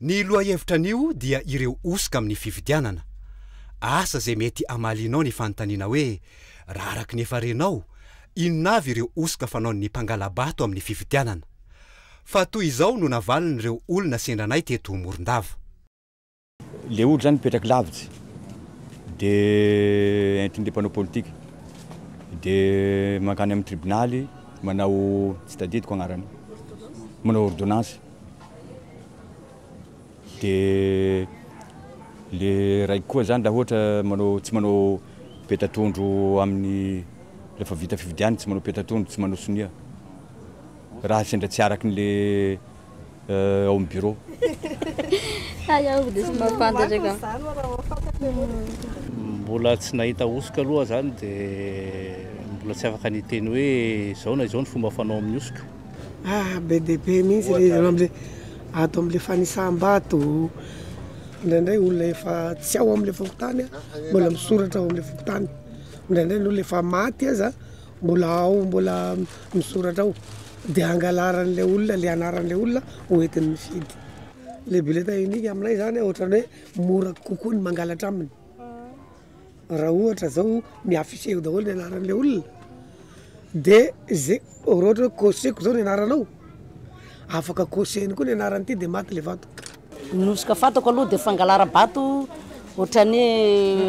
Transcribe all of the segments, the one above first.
Ny lohahevitra anio dia ireo hosoka amin'ny fifidianana. Asa izay mety hamalianao ny fanontaniana hoe, raha araka ny efa renao, inona avy ireo hosoka fanaon'ny mpangala-bato amin'ny fifidianana? Fa toy izao no navalin'ireo olona sendra anay teto Morondava. Le olo zany mipetraky lavitsy de entin'le mpanao politika de mankany am tribonaly manao tsy tadidiko agnarany manao ordonnance de le raiky koa zany la ohatra manao tsy manao peta-tondro aminy refa vita fifidiana tsy manao peta-tondro tsy manao sonia raha sendra tsy araky le eh, ao amin'ny bureau. Hay aho dia tsy mahafantatraka. Mbola tsy nahita hosoka aloha zany dia mbola tsy afaka ny teny hoe izao na izao ny fomba fanao amin'ny hosoka. Ah, be dia be mihitsy le izy amle ato amle fanisam-bato. Indraindray olona efa tsy ao amle fokontany mbola misoratra ao amle fokontany. Indraindray ny olona efa maty aza Mbola ao mbola misoratra ao dia angalaran'ilay olona ilay anaran'ilay olona ho entiny mifidy. Ilay bulletin unique aminay izany ohatran'ny hoe mora kokoa ny mangalatra aminy. Raha ohatra izao mi-afficher eo daholo ny anaran'ilay olona dia izay raha ohatra hoe cocher-ko izao ny anaranao afaka cocher-ny koa ny anaran'ity dia maty ilay vato. Ny hosoka fantako aloha dia fangalara-bato ohatran'ny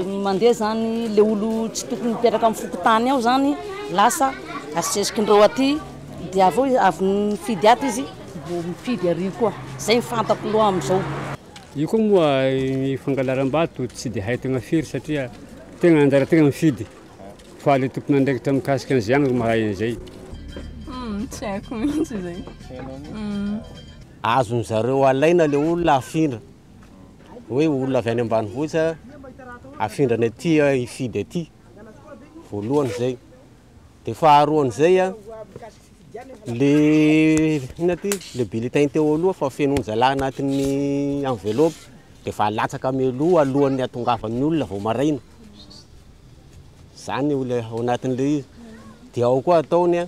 hoe mandeha zany le olo tsy tokony mipetraka amin'ny fokontany ao zany lasa asesisesindreo aty dia avy eo avy mifidy ato izy vao mifidy ary koa zay ny fantako aloha amin'izao Io koa moa ny fangalaram-bato tsy dia hay tegna firy satria tegna anjara tegna mifidy fa le tompon'andraikitra mikasika an'izay ihany no mahay an'izay. Tsy haiko mihitsy izay. Azony zareo alaina le olona afindra hoe olona avy any ambanivohitra afindra any aty hifidy aty voalohany zay de faharoany zay a le inona ty le bulletin teo aloha fa fenoiny zalahy anatin'ny enveloppe de efa alatsaka mialoha alohan'ny hatongavan'ny olona vao maraina zany olona ao anatin'le izy de ao koa ataony a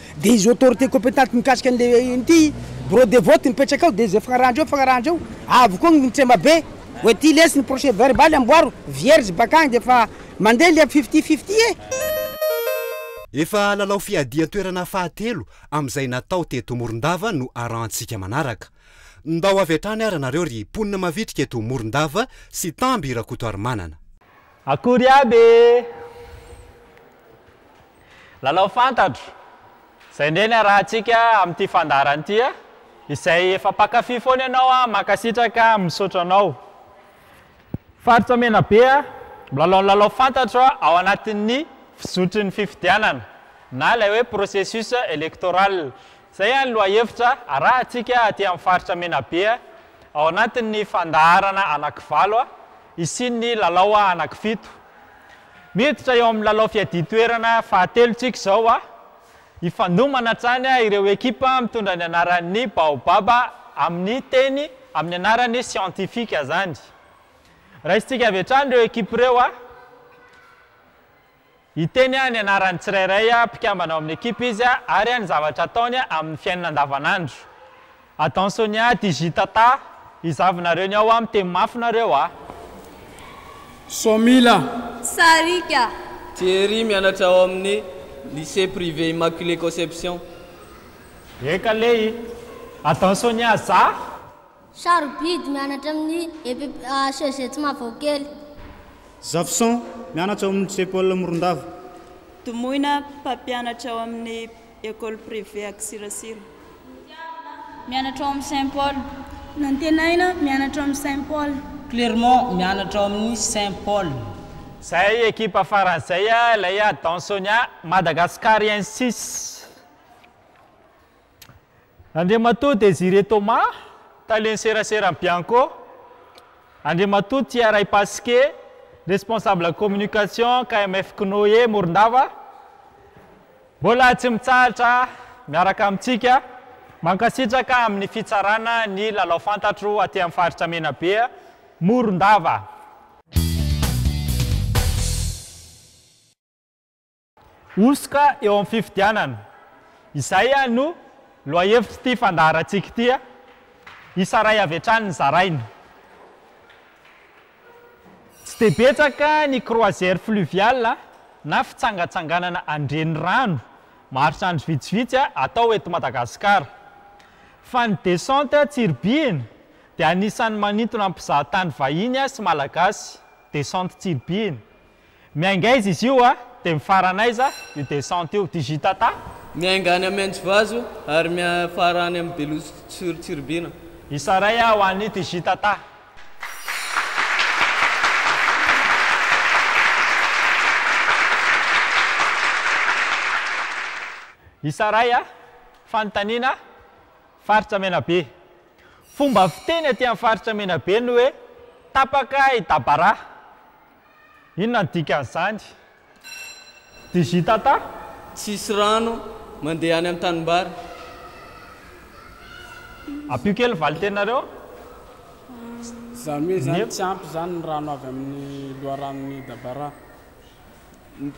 Dia izy autorité compétente mikasika an'le ity bureau de vote mipetraka ao dia izay fanarahandreo fanarahandreo avy koa ny tsema be hoe ity lesy ny procès verbal amboaro vierge bakany dia efa mandeha le fifty fifty e! Efa lalao fiadian-toerana fahatelo amin'izay natao teto Morondava no arahantsika manaraka. Ndao avy hatrany ara nareo ry mponina mavitrika eto Morondava sy Tamby Rakotoarimanana. Akory aby e! Lalao fantatro, zay ndray ny arahantsika amin'ity fandaharana ity a! Izay efa mpankafy foana ianao a, mankasitraka a, misaotra anao. Faritra Menabe a, milalao ny lalao fantatro ao anatin'ny fizotry ny fifidianana na ilay hoe processus electoral. Izay ihany lohahevitra arahantsika aty amin'ny faritra Menabe a, ao anatin'ny fandaharana anankivalo a, hisian'ny lalao anankifito. Miditra eo amin'ny lalao fiadian-toerana fahatelo tsika izao a! Hifandomana hatrany ireo ekipa mitondra ny anaran'ny Baobab amin'ny teny amin'ny anarany siantifika izany. Raisintsika avy hatrany ireo ekipa ireo a! Hiteny ny anaran'ny tsirairay mpikambana ao amin'ny ekipa izy ary ny zavatra ataony amin'ny fiainana andavanandro. Adan Sonia Digitata izavy nareo ny ao a miteny mafy nareo a. Somila. Sarika. Thierry mianatra ao amin'ny lycée privé Immaculée Conception. Eka lehi. Adan Sonia za. Sarobidy mianatra amin'ny EPPHZ Mavaokely. Zafison mianatra ao amin'ny lycée Paul Morondava. Domoina mpampianatra ao amin'ny. Ecole privée à Ksirasira. Mianatra ao amin'ny Saint Paul. Antenaina, mianatra ao amin'ny Saint Paul. Clermont, mianatra ao amin'ny Saint Paul. Zay ekipa farany zay a ilay a dans Sonia madagascariensis Andriamatoa Désiré Thomas talen'ny seraseran'i Bianco Andriamatoa Tia Raipasike responsable communication KMF Cnoe Morondava Mbola tsy mitsahatra miaraka amintsika. Mankasitraka amin'ny fitsarana ny lalao fantatro aty amin'ny faritra Menabe, Morondava. Hosoka eo amin'ny fifidianana. Izay ihany no lohahevitr'ity fandaharantsika ity. Isa iray avy hatrany ny zaraina. Tsy dia betsaka ny croisière fluviale na fitsangatsanganana an-drenirano maharitra vitsivitsy atao eto Madagasikara. Fa ny descente Tsiribihina dia anisan'ny manintona mpizahatany vahiny sy Malagasy, descente Tsiribihina, Miainga aiza izy io a? Dia mifarana aiza io descente io? Digitata? Miainga any Amin-Tsivazo ary miafara any amin'ny Belosy sur Tsiribihina. Isa iray ho an'i Digitata. Isa iray a! Fanontaniana, Faritra Menabe. Fomba fiteny aty amin'ny Faritra Menabe ny hoe tapaka i Dabaraha. Inona ny dikan'izany? Digitata? Tsisy rano mandeha any am tanimbary. Ampio kely ny valin-tenareo. Zany hoe zany tsy ampy zany ny rano avy amin'ny loharanon'i Dabara.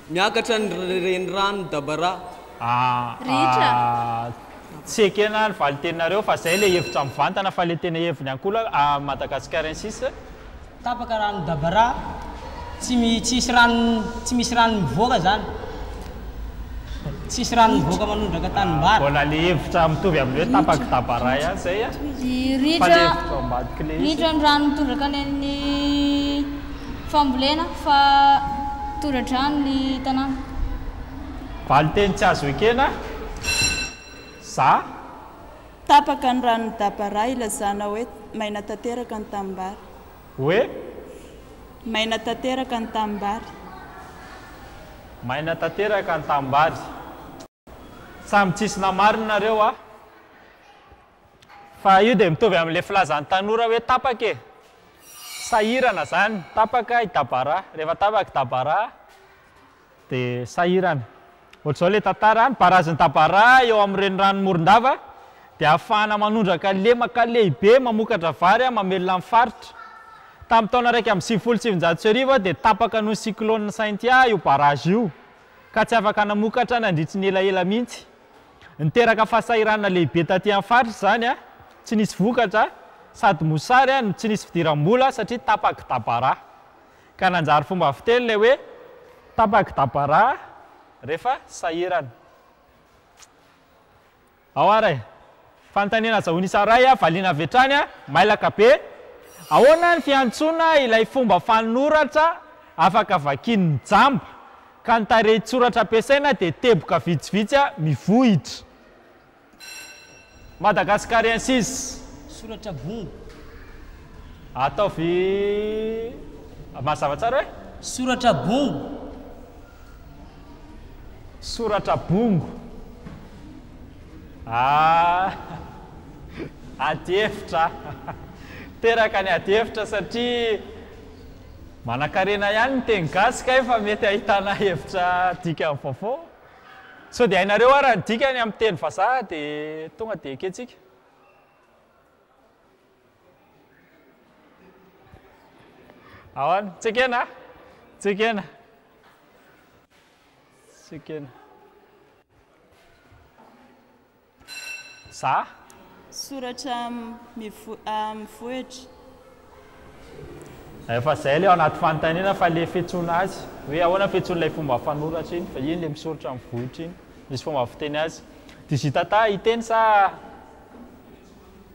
Miakatra ny reniranon'i Dabarà. Rehetra. Tsy ekena ny valinteninareo fa zay le hevitra mivantana fa le tena heviny ankola a Madagascarensis. Tapaka rano Dabarà, tsy mi tsisy rano tsy misy rano mivoaka zany. Tsisy rano mivoaka manondraka tanimbary. Mbola le hevitra mitovy amin'ny hoe tapaky Dabarà ihany zay a. Fa le hevitra ao ambadik'ilay izy. Ritra ny rano mitondraka any amin'ny fambolena fa tora-drano ny tanàna. Valinteny tsy azo ekena za. Tapaka ny ranon'i Dabara ilazana hoe maina tanteraka ny tanimbary. Hoe? Maina tanteraka ny tanimbary. Maina tanteraka ny tanimbary. Samy tsisy namarina nareo a! Fa io dia mitovy amin'ilay filazan'ny tanora hoe tapaka e! Sahirana izany, tapaka i Dabara, rehefa tapaka i Dabara dia sahirana. Ohatr'izao ilay tantara, ny barazin'i Dabara eo amin'ny reniranon'i Morondava dia ahafahana manondraka lemaka lehibe mamokatra vary mamelona ny faritra. Tamin'ny taona iraika amby sivifolo sy sivinjato sy arivo dia tapaka noho ny cyclone Cynthia io barrage io. ka tsy afaka namokatra nandritry ny elaela mihitsy. Niteraka fahasahiranana lehibe taty amin'ny faritra izany, tsy nisy vokatra sady mosary no tsy nisy fidiram-bola satria tapaky dabara. Ka nanjary fomba fiteny ilay hoe tapaky dabara rehefa sahirana. Ao ary e! Fanontaniana azahoany isa iray a! Valiana avy hatrany a! Mailaka be! Ahoana ny fiantsoana ilay fomba fanoratra afaka vakian'ny jamba ka ny tarehin-tsoratra ampiasaina dia teboka vitsivitsy a! Mivohitra! Madagascariensis. Soratra bongo. Ataovy mazava tsara hoe. Soratra bongo. Soratra bongo. Ah! Adihevitra a! Teraka ny adihevitra satria manankarena ihany ny teny gasy kay fa mety ahitana hevitra dikany vaovao. Sao dia hainareo ara ny dikany amin'ny teny vazaha dia tonga dia ekentsika. Ahoana? Tsy ekena? Tsy ekena? Tsy ekena. Za? Soratra mivohitra. Efa izay ilay ao anaty fanontaniana fa ilay fiantsoana azy hoe ahoana fiantsoan'ilay fomba fanoratra iny fa iny ilay misoritra amin'ny vohitra iny, misy fomba fiteny azy. Digitata hiteny sa?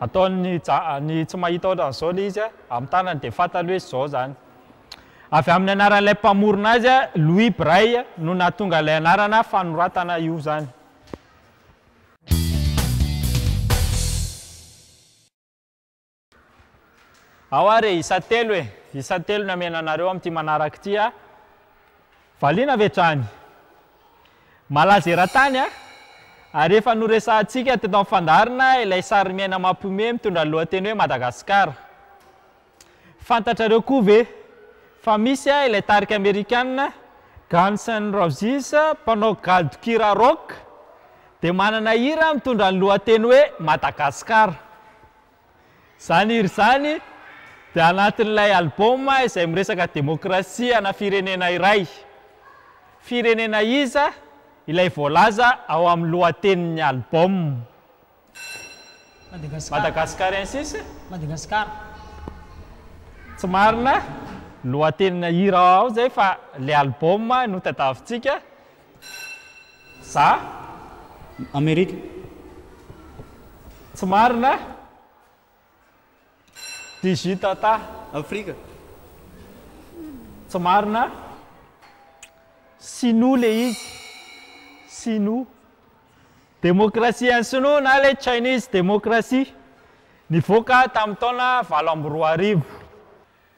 Ataony ny ny tsy mahita ohatran'izao ilay izy amin'ny tanany dia fantany hoe izao izany. Avy amin'ny anaran'ilay mpamorona azy, Louis Braille, no nahatonga ilay anarana fanoratana io izany. Ao ary e, isa telo e, isa telo ny amena anareo amin'ity manaraka ity a. Valiana ve hatrany? Malaza eran-tany an! Ary efa noresahantsika teto amin'ny fandaharana ilay sarimiaina mampihomehy mitondra ny lohateny hoe Madagasikara. Fantatrareo koa ve fa misy ilay tarika amerikana Guns N' Roses mpanao gadon-kira rock dia manana hira mitondra ny lohateny hoe Madagasikara? Izany hira izany dia anatin'ilay album izay miresaka demokrasia ana firenena iray. Firenena iza ilay voalaza ao amin'ny lohatenin'ny album? Madagasikarensis? Madagasikara. Tsy marina, lohatenina hira ao izay fa ilay album no tadiavintsika. Za Amerika tsy marina Digi Tata Afrika tsy marina Sinoa le izy Sinoa Demokrasia an'i Sinoa na le Chinese Demokrasia nivoaka tamin'ny taona valo amby roa arivo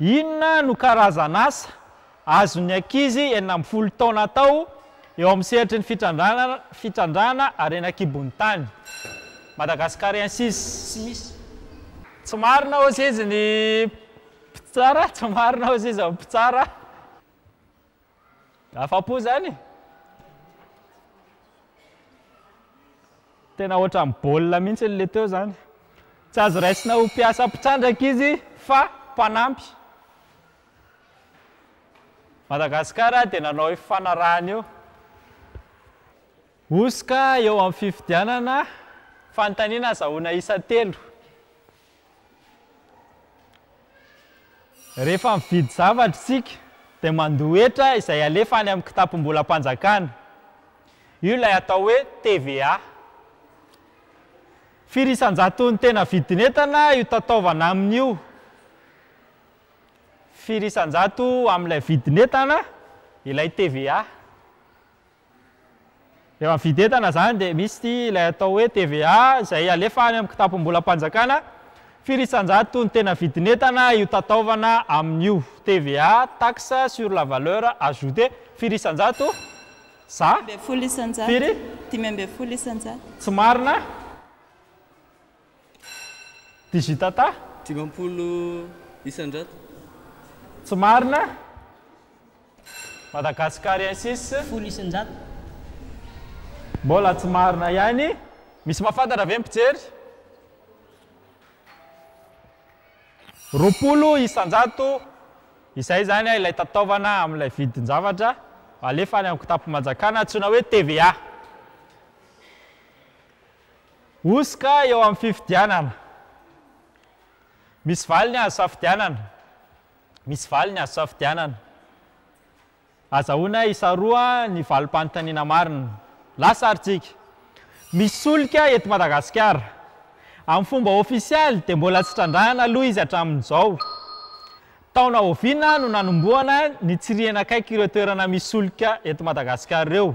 Inona no karazan'asa azon'ny ankizy enina ambin'ny folo taona atao eo amin'ny sehatry ny fitrandrahana harena an-kibon'ny tany? Madagascariensis, tsy misy. Tsy marina hozizy ny mpitsara, tsy marina hozizy ny mpitsara. Afa-po izany e! Tena ohatran'ny baolina mihitsy ilay teo izany. Tsy azo raisina ho mpiasa mpitrandraka izy fa mpanampy. Madagasikara dia nanao io fifanarahana io. Hosoka eo amin'ny fifidianana, fanontaniana azahoana isa telo. Rehefa mividy zavatra isika dia mandoa hetra izay alefa any amin'ny kitapom-bolam-panjakana. Io ilay atao hoe TVA. Firy isan-jaton'ny tena vidin'entana io tataovana aminy io? Firy isan-jato amin'ilay vidin'entana ilay TVA? Rehefa mividy entana izany dia misy ity ilay atao hoe TVA izay alefa any amin'ny kitapom-bolam-panjakana firy isan-jato ny tena vidin'entana io tataovana aminy io. TVA, taxe sur la valeur ajoutée, firy isan-jato? Za? Dimy ambin'ny folo isan-jato. Firy? Dimy ambin'ny folo isan-jato. Tsy marina? Digitata. Dimampolo isan-jato. Tsy marina. Madagascariensis. Folo isan-jato. Mbola tsy marina ihany. Misy mahafantatra ve ny mpijery? Roapolo isan-jato. Izay izany ilay tataovana amin'ilay vidin-javatra alefa any amin'ny kitapon'ny manjakana antsoina hoe TVA. Hosoka eo amin'ny fifidianana. Misy valiny azo safidianana. Misy valiny azo safidianana. Azahoana hisaroha ny valim-panontaniana marina. Lasa ary tsika. Misy solika eto Madagasikara. Amin'ny fomba ofisialy dia mbola tsy trandrahana aloha izy hatramin'izao. Taona oviana no nanombohana ny tsirihina akaiky ireo toerana misy solika eto Madagasikara ireo?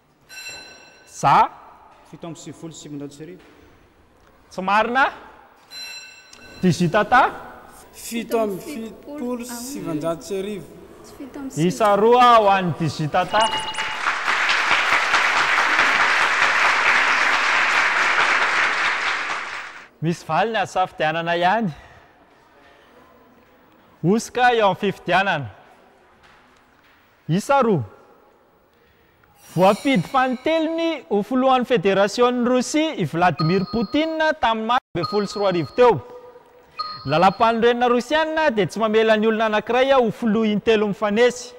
Za fito amby sivifolo sy sivinjato sy arivo. Tsy marina Digitata fito amby fitopolo sy sivinjato sy arivo. Isa roa ho an'i Digitata. Misy valiny azo safidianana ihany. Hosoka eo amin'ny fifidianana. Isa roa. Voafidy fanintelony ho filohan'ny Federasion'i Rosia i Vladimir Putin tamin'ny Martsa ambin'ny folo sy roa arivo teo. Ny Lalàmpanorenana Rosiana dia tsy mamela ny olona anankiray ho filoha intelo mifanesy.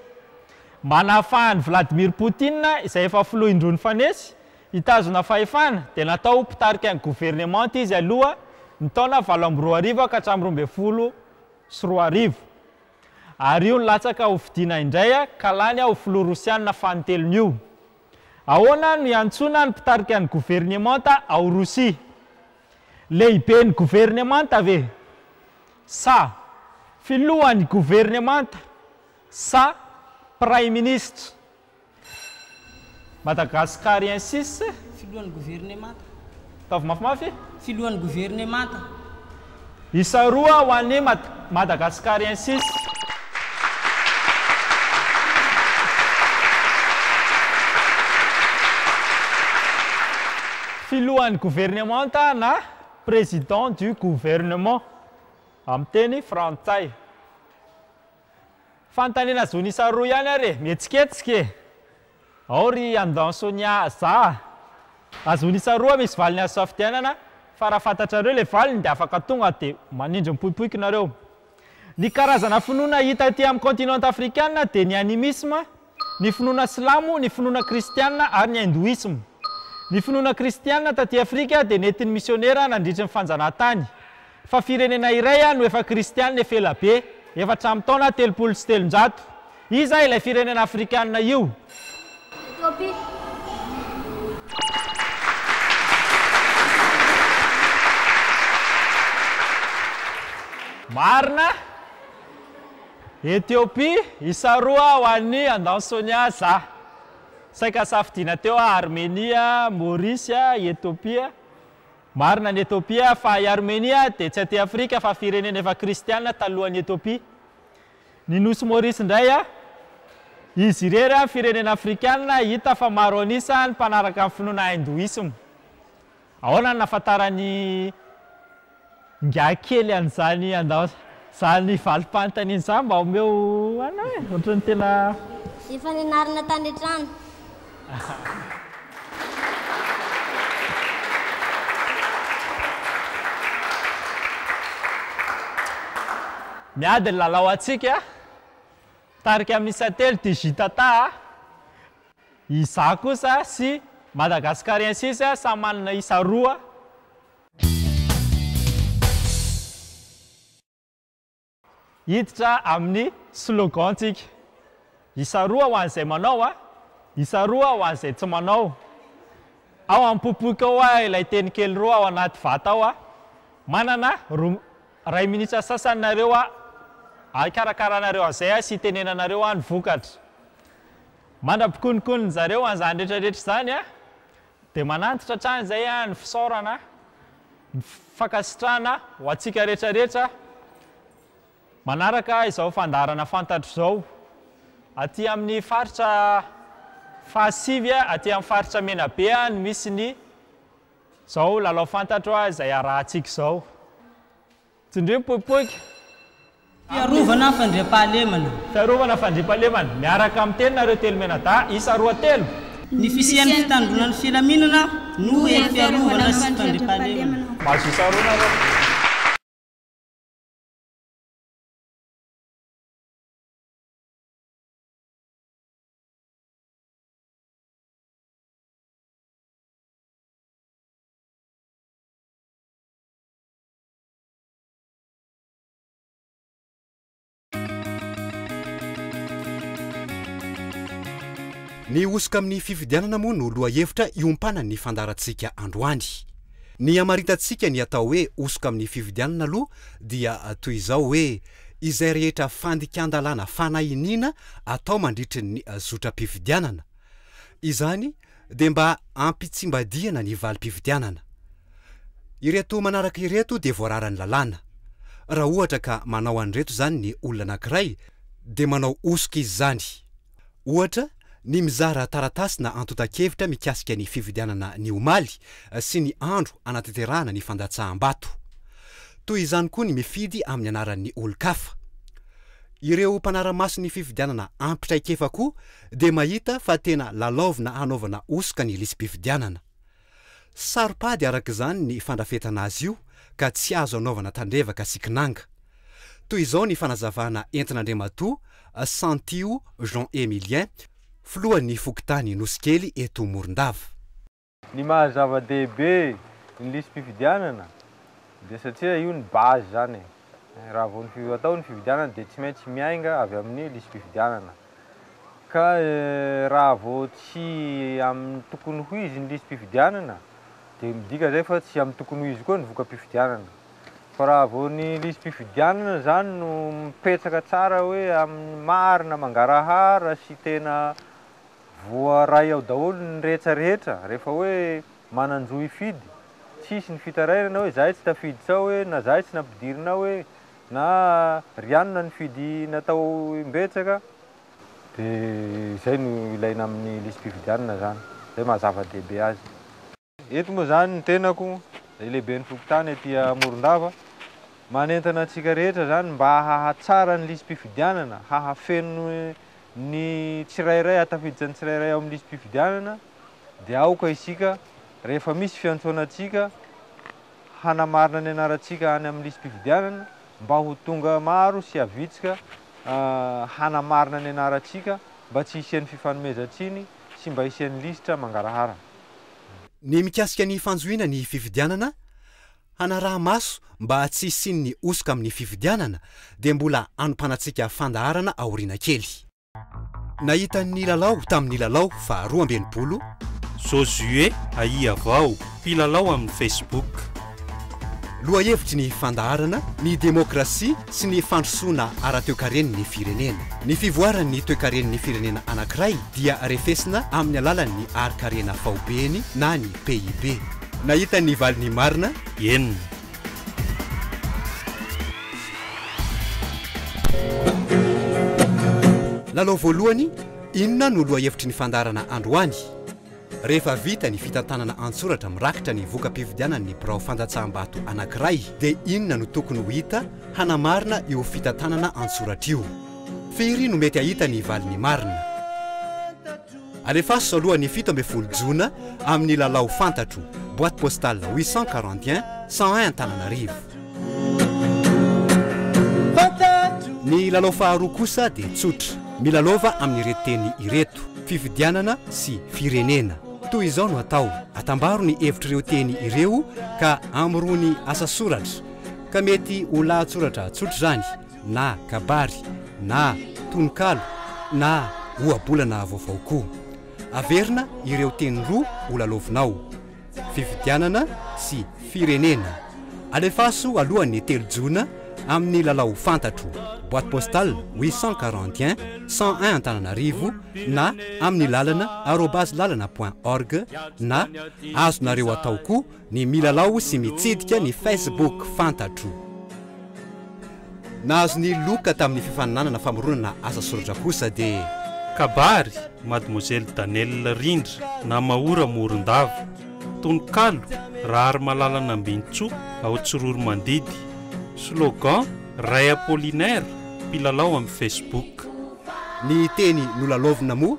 Manahafaha an'i Vladimir Putin, izay efa filoha indroa nifanesy, hitazona fahefana, dia natao ho mpitarika ny governemanta izy aloha ny taona valo amby roa arivo ka hatramin'ny roa ambin'ny folo sy roa arivo. Ary io nilatsaka ho fidiana indray ka lany ho filoha rosianina fanintelony io. Ahoana no iantsoana ny mpitarika ny governemanta ao Rosia? Lehiben'ny governemanta ve? Sa filohan'ny governemanta? Sa praiminisitra? Madagascariensis, Filohan'ny governemanta. Ataovy mafimafy. Filohan'ny governemanta. Isa roa ho an'ny Madagascariensis. Filohan'ny governemanta na Président du Gouvernement, amin'ny teny frantsay. Fanontaniana zony isa roa ihany ary e! Mihetsiketsika e! Ao ry Andon Sonia Za a! Raha zony isa roa misy valiny azo safidianana fa raha fantatrareo le valiny de afaka tonga de manindry mipoipoiky nareo. Ny karazana finoana hita aty am continent afrikana de ny animisme ny finoana silamo, ny finoana kristiana ary ny hindoisma. Ny finoana kristiana taty Afrika dia nentin'ny misionera nandritry ny fanjanahantany. Fa firenena iray no efa kristiana efa ela be, efa hatramin'ny taona telopolo sy telonjato. Iza ilay firenena afrikana io? Marina. Ethiopie isa roa ho an'ny Andao Sonia za. Saika safidiana teo aho Armenia, Maurice, Ethiopia. Marina ny Ethiopia fa i Armenia dia tsy aty Afrika fa firenena efa kristiana talohan'i Ethiopia. Ny nosy Maurice indray a. Izy irery an firenena afrikana hita fa maro an'isa ny mpanaraka ny finoana Hindoisme. Ahoana no nahafantaran'ny ingahy kely an'izany andao izany valim-panontaniana izany mba omeo anay e? Ohatran'ny tena. Efa nianarana tany an-trano. Miady ny lalao antsika, mitarika amin'ny isa telo DJtata a. Izaho kosa sy Madagascariensis samy manana isa roa. Hiditra amin'ny slogan-tsika. Isa roa ho an'izay manao a! Isa roa ho an'izay tsy manao. Ao am-popoiko ao a ilay teny kely roa ao anaty vata ao a! Manana roa, iray minitra sasany nareo a! Hikarakarana anareo an'izay a sy hitenenanareo a ny vokatra. Mandra-pikononkonon'ny zareo an'izany retraretra izany an, dia manantitra hatrany izay an ny fisaorana, ny fankasitrahana ho antsika retraretra manaraka izao fandaharana fantatro izao aty amin'ny faritra fahasivy aty amin'ny faritra Menabe an no misy ny izao lalao fantatro izay arahantsika izao. Tsindrio mipoipoika. Fiarovana fandriampahalemana. Fiarovana fandriampahalemana, miaraka amin'ny teninareo telo mianadahy isa roa telo. Ny fisian'ny fitandroana ny filaminana no hery fiarovana sy fandriampahalemana. Mahazo isa roa nareo. Ny hosoka amin'ny fifidianana moa no lohahevitra iompanany ny fandaharantsika androany. Ny hamaritantsika ny atao hoe hosoka amin'ny fifidianana aloha dia toy izao hoe izay rehetra fandikan-dalàna fanahiniana atao mandritry ny zotram-pifidianana. Izany dia mba hampitsimbadihana ny valim-pifidianana. Ireto manaraka ireto dia voararan'ny lalàna. Raha ohatra ka manao an'ireto izany ny olona anankiray dia manao hosoka izy izany. Ohatra, ny mizara taratasina antontan-kevitra mikasika ny fifidianana ny omaly sy ny andro hanatanterahana ny fandatsaham-bato. Toy izany koa ny mifidy amin'ny anaran'ny olon-kafa. Ireo mpanara-maso ny fifidianana ampy traikefa koa dia mahita fa tena lalaovina hanaovana hosoka ny lisi-pifidianana. Saro-pady araka izany ny fandrafetana azy io ka tsy azo anaovana tandrevaka sy kinanga. Toy izao ny fanazavana entin'Andriamatoa Santio Jean Emilien, filohan'ny fokontany Nosikely eto Morondava. Ny maha zava-dehibe ny lisi-pifidianana dia satria io ny base izany e. Raha vao ny atao ny fifidianana dia tsy maintsy miainga avy amin'ny lisi-pifidianana. Ka raha vao tsy amin'ny tokony ho izy ny lisi-pifidianana dia midika izay fa tsy amin'ny tokony ho izy koa ny voka-pifidianana. Fa raha vao ny lisi-pifidianana izany no mipetraka tsara hoe amin'ny marina mangarahara sy tena Voaray ao daholo ny rehetra rehetra rehefa hoe manan-jo hifidy, tsisy ny fitarairana hoe zahay tsy tafidy sao hoe na zahay tsy nampidirina ao hoe na ry anona nifidy natao imbetsaka, dia izay no ilaina amin'ny lisi-pifidianana zany, izay maha zava-dehibe azy. Eto moa izany ny tenako, dia lehiben'ny fokontany aty Morondava, manentana antsika rehetra izany mba hahatsara ny lisi-pifidianana, hahafeno ny tsirairay, hahatafiditra ny tsirairay ao amin'ny lisi-pifidianana, dia aoka isika rehefa misy fiantsoana antsika hanamarina ny anarantsika any amin'ny lisi-pifidianana mba ho tonga maro sy havitsika hanamarina ny anarantsika mba tsy hisian'ny fifanomezan-tsiny sy mba hisian'ny lisitra mangarahara. Ny mikasika ny fanjohiana ny fifidianana, hanaraha-maso mba tsy hisian'ny hosoka amin'ny fifidianana dia mbola anompanantsika fandaharana aoriana kely. Nahita ny lalao tamin'ny lalao faharoa amby enimpolo, Josué Ahiavao, mpilalao amin'ny Facebook. Lohahevitry ny fandaharana ny demokrasia sy ny fandrosoana ara-toekareny ny firenena. Ny fivoaran' ny toekareny ny firenena anankiray dia refesina amin' ny alalan' ny harin-karena faobeany na ny PIB. Nahita ny valiny marina enina. Lalao voalohany, Inona no lohahevitry ny fandaharana androany? Rehefa vita ny fitantanana an-tsoratra mirakitra ny voka-pifidianan'ny birao fandatsaham-bato anankiray dia inona no tokony ho hita hanamarina io fitantanana an-tsoratra io? Firy no mety hahita ny valiny marina? Alefaso aloha ny fito ambin'ny folo jona amin'ny lalao fantatro, boite postale huit cent quarante et un cent un Antananarivo. Ny lalao faharoa kosa dia tsotra, milalaova amin'ireto teny ireto. fifidianana sy firenena. Toy izao no atao, atambaro ny hevitr'ireo teny ireo ka amorony asa soratra, ka mety ho lahatsoratra tsotra izany na kabary na tononkalo na ohabolana vaovao koa. Averina ireo teny roa ho lalaovinao. Fifidianana sy Firenena. Alefaso aloha ny telo jona amin'ny lalao fantatro, boite postale 841 101 Antananarivo na amin'ny lalana arobase lalana point org na azonareo atao koa ny milalao sy mitsidika ny facebook fantatro. Nahazo ny loka tamin'ny fifaninanana famoronana asa soratra kosa dia. Kabary, Mademoiselle Danelle Rindra na Maora Morondava, tononkalo, Raharimalala Nambinintsoa ao Tsiroromandidy, slogan, Ray Apollinaire, mpilalao amin'ny Facebook. Ny teny nolalaovina moa